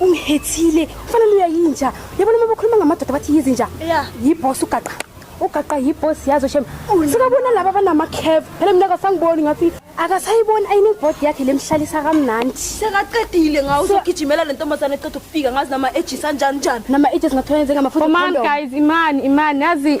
ungihethile kufanele uyayinja yabona uma bakhuluma ngamadoda bathi yizinja yibhosi ugaqa ugaqa yibhosi yazo shem sikabona laba banamacave phela mina kasangiboni ngathi akasayiboni ayinibhodi yakhe lemhlalisa kamnandi sekaqedile ngawo uzogijimela le ntombazane eqeda ukufika ngazi nama-ages anjani njani nama-ages ngathola njengamafutha guys imani imani yazi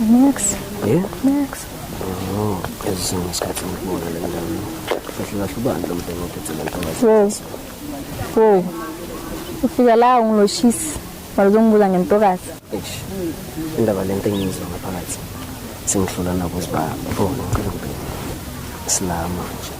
Next. Yeah? Next. Oh, as soon as Captain Moore and um, Professor Shuban, the Motor Professor. Whoa. Whoa. Ufika la ungiloshisi walizongibuza ngentokazi eish indaba lento engiyizwa ngaphakathi sengihlula nabo sibabona ngicela ukubheka silama nje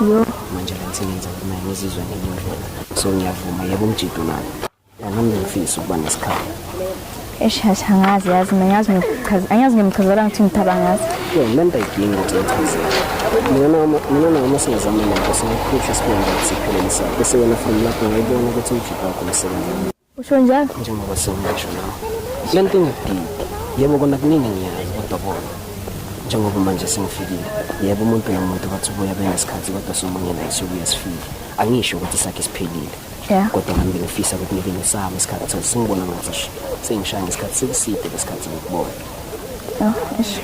Yo. Manje la ngisebenza kumele ngizizwe ngenye indlela. So ngiyavuma yebo umjido nami. Nami ngifisa ukuba nesikhathi. Eshasha angazi yazi mina ngiyazi ngikuchaza angiyazi ngimchazela ngithi ngithaba ngazi. Yo mina ndayidinga ukuthi ngichaze. Mina noma mina noma singazama nento singakuphisha sibonga ukuthi siphelelisa. Bese wena from lapho ngayibona ukuthi umjido wakho usebenza. Usho njalo? Njengoba sewungasho nawe. Le nto ingakudidi. Yebo kona kuningi engiyazi kodwa bona. Njengoba manje sengifikile. Yebo umuntu nomuntu bathi ubuya benesikhathi kodwa somunye naye siyobuya sifike. Angisho ukuthi sakhe siphelile. Yeah. Kodwa nami bengifisa ukuthi ngibe nesami isikhathi sokuthi singibona ngathi sengishaya ngesikhathi sekuside lesikhathi ngikubona. Oh, eish.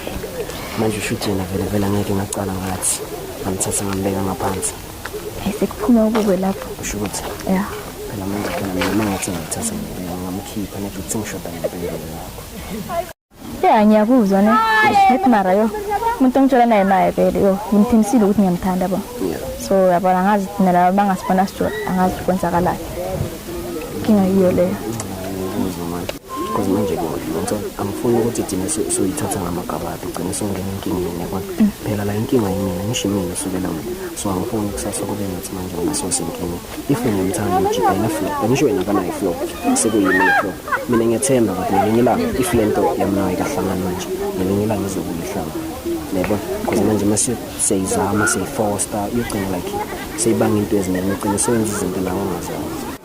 Manje usho ukuthi yena vele vele angeke ngacala ngathi. Ngimthatha ngambeka ngaphansi. Sekuphuma ukube lapho. Usho ukuthi. Yeah. Phela manje phela mina mangathi ngithatha ngamkhipha nje ukuthi ngishoda ngempilo yakho. Yeah, ngiyakuzwa ne. Ngithi mara yo. Umuntu ongitshela naye naye vele yo. Ngimthimisile ukuthi ngiyamthanda bo. Yeah. So yabona ngazi thina laba bangasibona sijola angazi kwenzakalayo. Kinga yiyo leyo. Ngiyakuzwa manje. because manje yonke angifuni ukuthi thina suyithatha ngamagabade ugcine usungena enkingeni yabona mm. phela la inkinga yimina ngisho imina usukela mina so angifuni kusasa kube ngathi manje wena sosenkingeni if ngimthanda ujibhela flow angisho wena kanayo flow sekuyimina flow mina ngiyethemba ukuthi ngelinye ilanga if le nto yamnayo ikahlangana manje ngelinye ilanga izokuyihlanga yebo because manje uma siyayizama siyifosta yogcina like seyibanga into eziningi ugcine soyenza izinto nawo ongazazi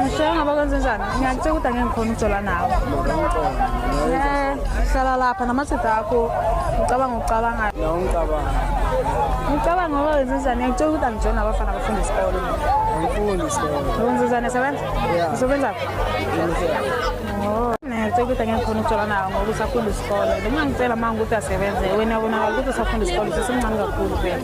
Ngisho ngaba kwenze njani? Ngiyakutshela ukuthi angeke ngikhona ukujola nawe. Eh, hlala lapha namathida akho. Ngicabanga ukucabangayo. Nawe ngicabanga. Ngicabanga ngoba wenze njani? Ngiyakutshela ukuthi angijola nabafana abafunda isikole. Angifundi isikole. Wenze njani sebenza? Yeah. Usebenza? Oh. Ngicela ukuthi angeke ngikhona ukujola nawe ngoba usafunda isikole. Noma ngicela manje ukuthi asebenze. Wena ubonakala ukuthi usafunda isikole, usemncane kakhulu vele.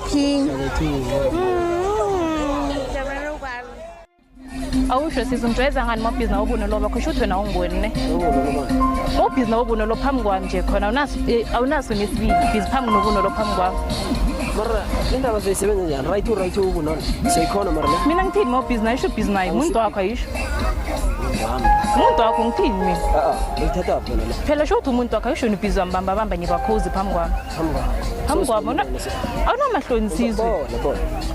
King. awusho size ungijwayeza ngani mabhizi nawo ubuno loba khosho ukuthi wena awungiboni ne ubhizi nawo ubuno lo phambi kwami nje khona awunaso eh, awunaso nesibili bhizi phambi nobuno lo phambi kwami mara indaba zoyisebenza njani right u right ukunona seyikhona mara ne mina ngithini mawubhizi nayo isho ubhizi nayo umuntu wakho ayisho wami umuntu wakho ngithini mina a a uyithatha phi wena ne phela sho ukuthi umuntu wakho ayisho nibhizi wambambabamba ngikwakhuzi phambi kwami phambi kwabo awunamahloni nsizwe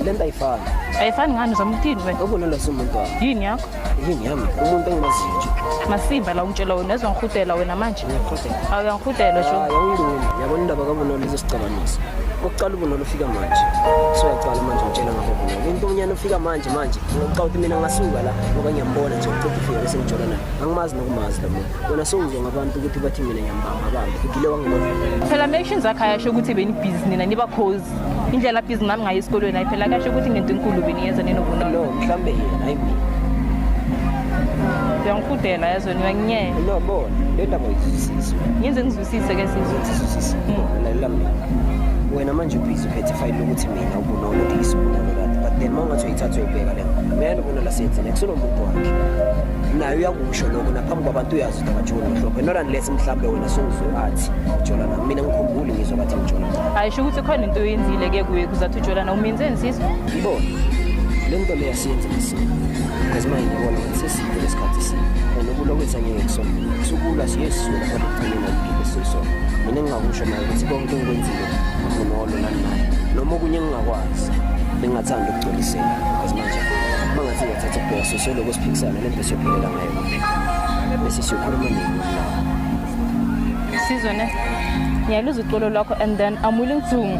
lento ayifani ayifani ngani uzama ukuthini wena ubulala sumuntu wakho yini yakho yini yami umuntu engimaziyo nje masimba la ungitshela wena ezwa ngihudela wena manje awu uyangihudela sho yawungiluni yabona indaba kabunolo izosicabanisa ukuqala ubunolo ufika manje so uyaqala manje ngitshela ngakho ubunolo into omnyana ufika manje manje ngokuxa ukuthi mina ngasuka la ngoba ngiyambona nje uqeda ufika bese ngijolana angimazi nokumazi lo muntu wena sowuzwa ngabantu ukuthi bathi mina ngiyambamba bambi ugile wangeloa phela ma-action zakhe ayasho ukuthi benibhizi nina niba cause indlela bhizi nami ngayo esikolweni ayi phela kuyasho ukuthi ngento enkulu beniyenza ninobunono no mhlawumbe yena hayi mina uyangifudela yazweni uyanginyela no bona le ndaba uyizwisise ngenze ngizwisise ke sizwe sizwisise lalela mina wena manje ubhizi uphethe ifayile lokuthi mina ubunono ndiyisibulalo kade but then uma ungathi uyithatha uyibheka le mina nobona lasenze nekusenomuntu wakhe naye uyakusho lokho naphambi kwabantu uyazi ukuthi akajoli mhlophe not unless mhlawumbe wena sowuzwe athi ujola nami mina ngikhumbuli ngizwa bathi ngijola ayisho ukuthi khona into oyenzile ke kuye kuzathi ujola na umenze nsizwa ngibona le nto leyo siyenze ngisini because manje ngibona ukuthi seside lesikhathi sini and ukulwa kwethu angeke kusona sukulwa siyesizula kodwa ekugcineni angigile sisona mina ngingakusho naye ukuthi konke engikwenzile nginolo nani naye noma okunye engingakwazi bengingathanda ukugculisela because manje uma ngathi ngiyathatha ubheka Soloko siphikisana lento esiyophelela ngayo kuphi. Bese siyokhuluma nini mna? Sizwe ne. Ngiyaluza uxolo lwakho and then I'm willing to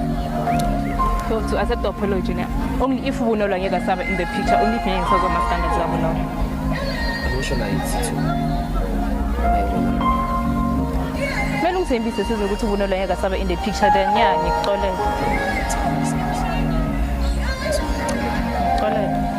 so to accept the apology ne. Only if ubunolwa ngeke asaba in the picture only if ngeke ngisazwa ama standards abo no. Akusho la yithi too. Kumele ungithembise sizwe ukuthi ubunolwa ngeke asaba in the picture then yeah ngikuxolela.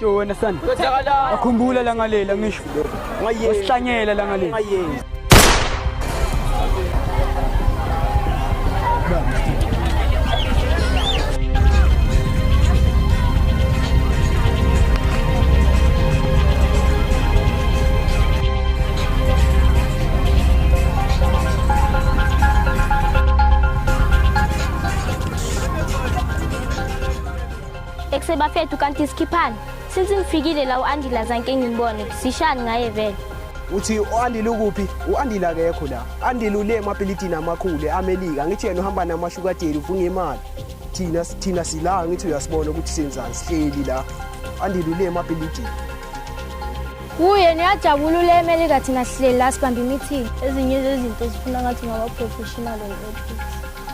Yo wena sana. Akhumbula la ngalela ngisho. Wasihlanyela la ngalela. Ekuse bafethu kanti sikhiphani. Since ngifikile la uAndila zanke ngimbone. Sishani ngaye vele. uthi u-andile ukuphi u-andile akekho la andile ule emabhilidini amakhulu e-amelika ngithi yena uhamba namashukadeli ufunga imali thina thina sila ngithi uyasibona ukuthi senzani sihleli la andile ule emabhilidini kuye niyajabula ule emelika thina sihleli la sibambe imithini ezinye zezinto zifuna ngathi ngaba-professional and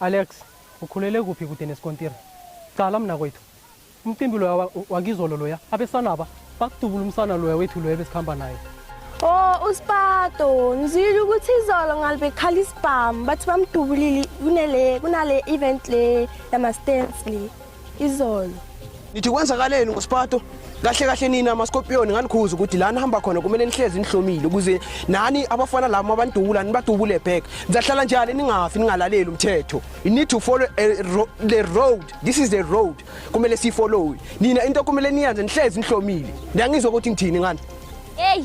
Alex, Ukhulele kuphi kude nesikontiri? Cala mnakwethu. Umcimbi loya wa- wakizolo loya. Abesanaba bakudubula umsana loya wethu loya besikhamba naye. Oh, uSpato, ngizwile ukuthi izolo ngalibe khala isibhamu bathi bamdubulile kunele kunale event le yama stands le. izolo nithi kwenzakaleni ngosipato kahle kahle nina maskopiyoni nganikhuza ukuthi lana hamba khona kumele nihlezi nihlomile ukuze nani abafana labo mabandubula nibadubule back nizahlala njani ningafi ningalaleli umthetho you need to follow ro the road this is the road kumele sifollowe nina into kumele niyenze nihlezi nihlomile ndiyangizwa ukuthi ngithini ngani hey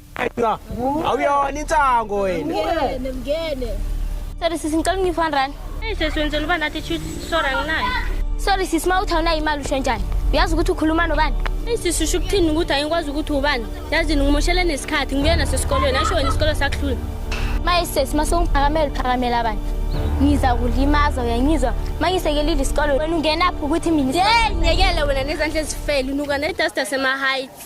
Aywa. Awuyona insango wena. Ngene, ngene. Sorry sisi ngicela ungifa rand. Hey sisi wenzela uba nathi shoot sorry anginayo. Sorry sisi ma uthi awunayo imali usho njani? Uyazi ukuthi ukhuluma nobani? Hey sisi usho ukuthini ukuthi ayikwazi ukuthi ubani? Yazi ngimoshele nesikhathi ngibuya nasesikolweni asho wena isikole sakuhlula. Maye sisi mase ungiphakamela uphakamela abantu. Ngiza kulimaza uyangizwa mangisekelile isikole wena ungenaphi ukuthi mina. Hey nyekele wena nezandla ezifele unuka ne duster sema heights.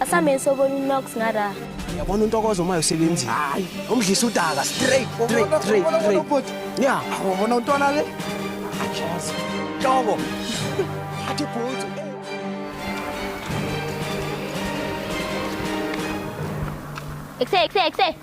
Asameni sobona uNox ngara. Yabona untokozo uma usebenzini. Hayi, umdlisa udaka straight straight straight straight. Yeah, awubona untwana le? Achazi. Hloko. Athi bhuti. Ekse ekse ekse.